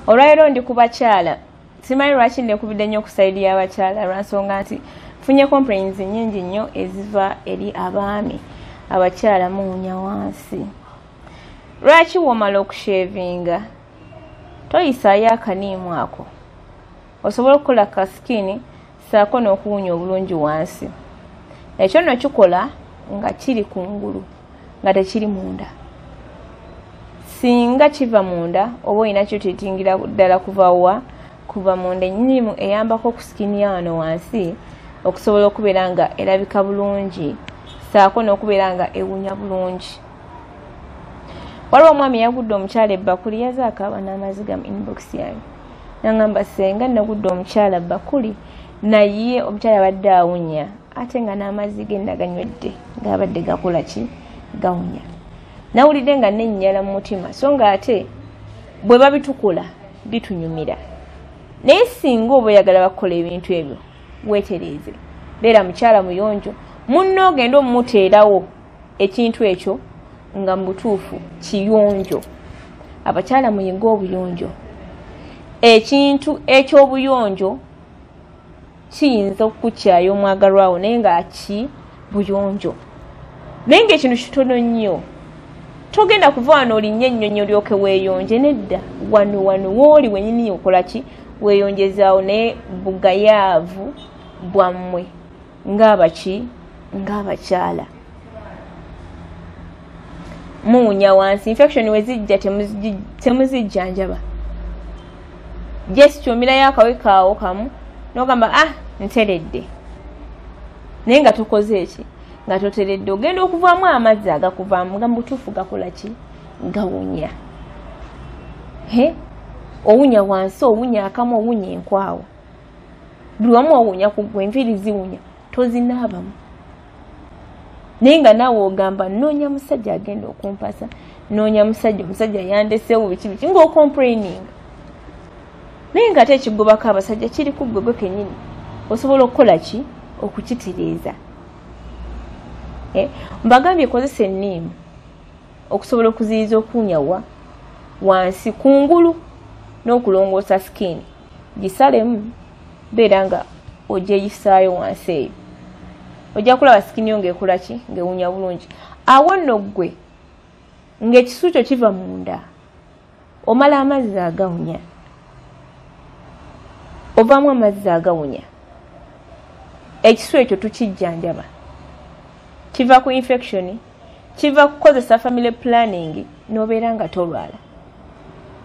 olwalero ndi ku bakyala simanyi lwaki nekubidde nnyo okusaidi y'abakyala lwansonga nti funye complains nyingi nnyo eziva eri abaami abakyala muwunya wansi lwaki womala okushevinga toyisaayo akaniimu ako osobola okukola ka sikini saako n'okuwunya obulungi wansi ekyo nno kikola nga kiri ku ngulu nga tekiri munda singa kiva munda oba olina kyotitingira ddala kuva wa kuva munda enyinimu eyambako ku sikini ya wano wansi okusobola okubeera nga erabika bulungi saako n'okubeera nga ewunya bulungi waliwo omwami yagudde omukyala ebbakuli yazaakaaba n'amaziga mu inbox yange nangamba senga nagudde omukyala bakuli naye omukyala abadde awunya ate nga n'amazzi ge naganywedde ngaabadde gakola ki gawunya nawulidde nga nennyala mu mutima so nga ate bwe babitukula bitunyumira naye singa oba oyagala bakukola ebintu ebyo wetereeze beera mukyala muyonjo munna ogenda omumuteerawo ekintu ekyo nga mu butuufu kiyonjo abakyala muyinga obuyonjo ekintu eky'obuyonjo kiyinza okukukyaya omwagalwawo naye nga ki buyonjo naye nga ekintu kitono nnyo togenda kuva wano olinnya ennyonyi olyoke weeyonje nedda wano wano wooli wenyini okola ki weeyonjezaawo naye bugayaavu bwammwe ngaabaki ngaabakyala muwunya wansi infection wezijja temuzijjanjaba just omirayo akawekaawo kamu nogamba ah nteredde naye nga tokoze eki nga toteredde ogenda okuvaamu amazzi agakuvaamu nga mubutuufu gakola ki gawunya owunya wansi owunya akamu owunya enkwawo buli wamu wawunya ku gwe enviiri ziwunya tozinaabamu naye nga naawe ogamba noonya musajja agenda okumpasa noonya musajja omusajja yandesewo biki biki ngaokompraining naye nga ate ekigobako abasajja kiri ku gwe gwe kenyini osobola okukola ki okukitereeza eh, mbagambye ekozesa enniimu okusobola okuziyiza okuwunyawa wansi kungulu n'okulongoosa sikini gisalemu beera nga ogyeyisaayo wansi eyo ojja kulaba sikini yo ngaekula ki ngaewunya bulungi awo nno ggwe ngaekisu kyo kiva munda omala amazzi agawunya ovaamu amazzi agawunya ekisu ekyo tukijjanjaba kiva ku infectioni kiva kukozesa family planning nobeera nga tolwala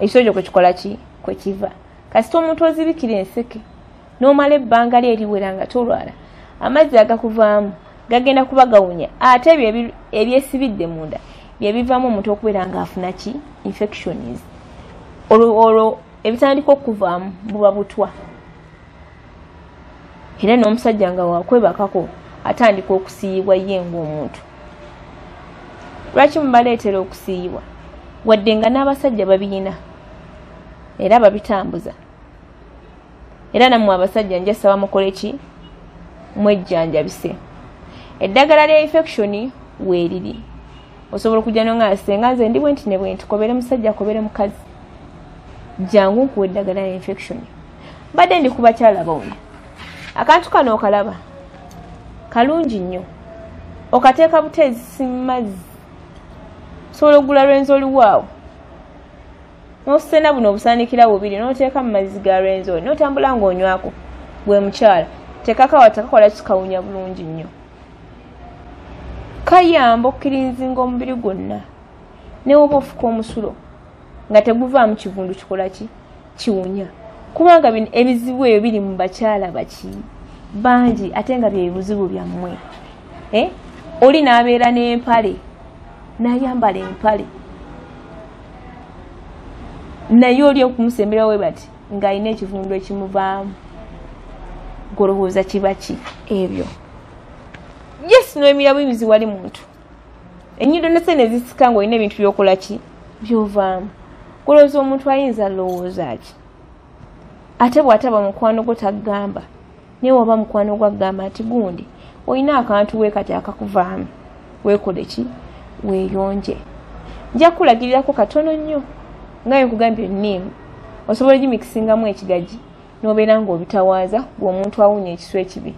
ekitoo kyo kwekikola ki kwekiva kasita omuntu ozibikira enseke nomala ebbanga lye eriwera nga tolwala amazzi agakuvaamu gagenda kuba gawunya ate ebyo ebyesibidde munda byebivaamu omuntu okubeera nga afuna ki infections olwo ebitandika okuvaamu buba butwa era n'omusajja nga wakwebakako atandika okusiiyibwa ye ngaomuntu lwaki mubaleetera okusiiyibwa wadde nga n'abasajja babiyina era babitambuza era nammwe abasajja njasaba mukole ki mwejjanjabise eddagala lya infection weeriri osobola okujja no nga senga nze ndi bwenti ne bwenti kobere musajja kobere mukazi jangu nkuwa eddagala ya infection mbadde ndi kubakyala bombi akantu kano okalaba kalungi nnyo okateeka buteezisi mumazzi osobola okugula lwenzi oliwaawo nosena buno obusandikira bubiri noteeka mumazzi ga lwenzi oli notambula ngaonywako gwe mukyala tekakawa tekakola kikawunya bulungi nnyo kayamba okukirinzinga omubiri gwonna newoba ofuka omusulo nga teguvaamu kivundu kikola ki kiwunya kubanga bino ebizibu ebyo biri mu bakyala baki bangi ate nga byebizibu byammwe eh? oli n'abeera n'empale n'ayambala empale naye oli okumusembera we bati ng'alina ekivundu ekimuvaamu golowooza kiba ki ebyo yes n'emirabo emizi wali muntu enyindo nese nezisika nga olina ebintu byokola ki byovaamu kulowooza omuntu ayinza lowooza ki ate bwataba mukwano gwo tagamba naye waba mukwano gwo agamba nti gundi olina akantu we kati akakuvaamu wekole ki weyonje nja kulagirirako katono nnyo nga nkugambye nim osobola gimikisingamu ekigaji nobeera ngaobitawaaza gwe omuntu awunya ekisu ekibi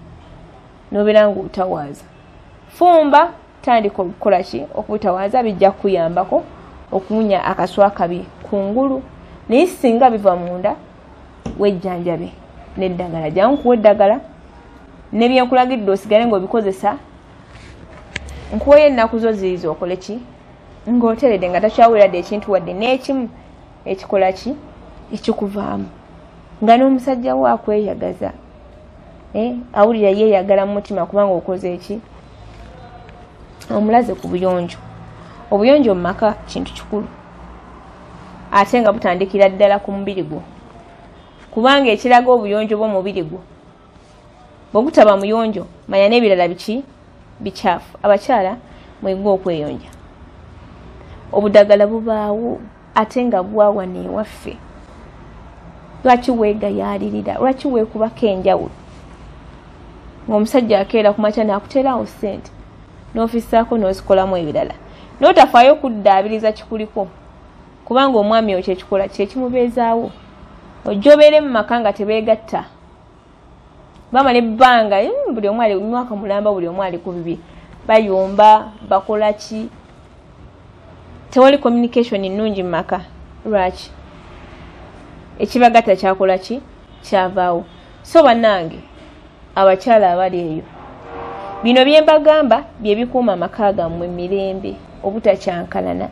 nobeera nga otawaaza fumba tandika okukola ki okubutawaaza bijja kukuyambako okuwunya akaswa kabi ku ngulu naye singa biva munda wejjanjabe neddagala jangu kuwa eddagala nebyenkulagidde osigale ngaobikozesa nkuweyo ennaku zo ziiza okole ki ngaoteredde nga takyaweradde ekintu wadde n'ekimu ekikola ki ekikuvaamu nga n'omusajja wo akweyagaza eh, awulira yeeyagala mu mutima kubanga okoze eki omulaze ku buyonjo obuyonjo mu maka kintu kikulu ate nga butandikira ddala ku mubiri gwo kubanga ekiraga obuyonjo bw'omubiri gwo bwogutaba muyonjo manya n'ebirala biki bikyafu abakyala mwegwa okweyonja obudagala bubaawo ate nga bwawa newaffe lwaki weegayaalirira lwaki weekubako enjawulo ng'omusajja akeera ku makya naakuteerawo ssente n'ofisaako n'ozikolamu ebirala n'otafaayo okuddaabiriza kikuliko kubanga omwami oyo kyekikola kyekimubeezaawo ojja obeere mu maka nga tebeegatta bamala ebbanga hmm, buli omu ali mwaka mulamba buli omu ali ku bibye bayomba bakola ki tewali communication nnungi mu maka lwaki ekibagatta kyakola ki kyavaawo so bannange abakyala abali eyo bino bye mbagamba bye bikuuma amaka gammwe mirembe obutakyankalana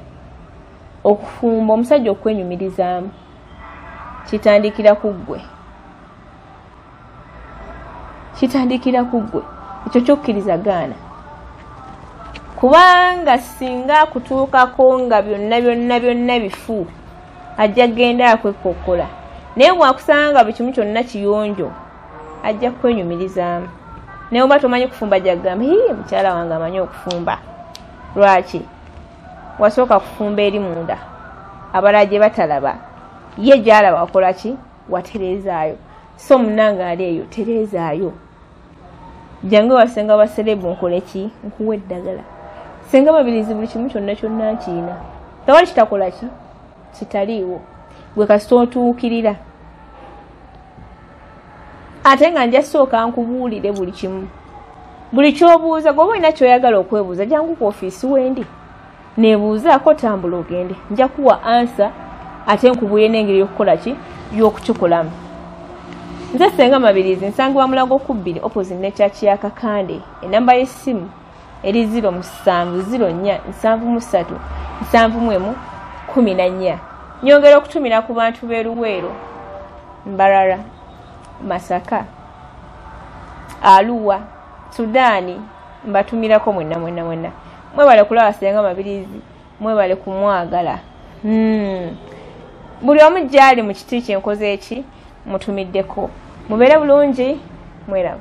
okufumba omusajja okwenyumirizaamu kitandikira ku ggwe kitandikira ku ggwe ekyo kyokkiriza gaana kubanga singa akutuukako nga byonna byonna byonna bifu ajja kugenda akwekokkola naye bwakusanga nga buli kimu kyonna kiyonjo ajja kukwenyumirizaamu naye oba tomanyi kufumba jagamba hii mukyala wange amanyi okufumba lwaki wasooka kufumba eri munda abala gye batalaba ye gyalaba wakola ki watereezaayo so munange ali eyo tereezaayo jange wasenga baserebu nkole ki nkuwa eddagala senga babirizi buli kimu kyonna kyonna nkiina tewali kitakola ki kitaliiwo gwe kasita otuukirira ate nga nja sooka nkubuulire buli kimu buli kyobuuza gwoba olina kyoyagala okwebuuza jangu ku ofiisi wendi nebuuzaako tambula ogende nja kuwa ansa ate nkubuule n'engeri yokukola ki y'okukikolamu nze senga mabirizi nsangibwa mulago kubbiri opposite ne kyaki ya kakande enamba y'essimu eri ziro musanvu ziro nnya nsanvu mu ssatu nsanvu mu emu kumi na nnya nyongera okutumira ku bantu b'e luweero mbarara masaka aluwa sudaani mbatumirako mwenna mwenna mwenna mwebale kulaba senga mabirizi mwebale kumwagala hmm. buli omu gyali mu kiti kyenkoze eki mutumiddeko mubeere bulungi mweraba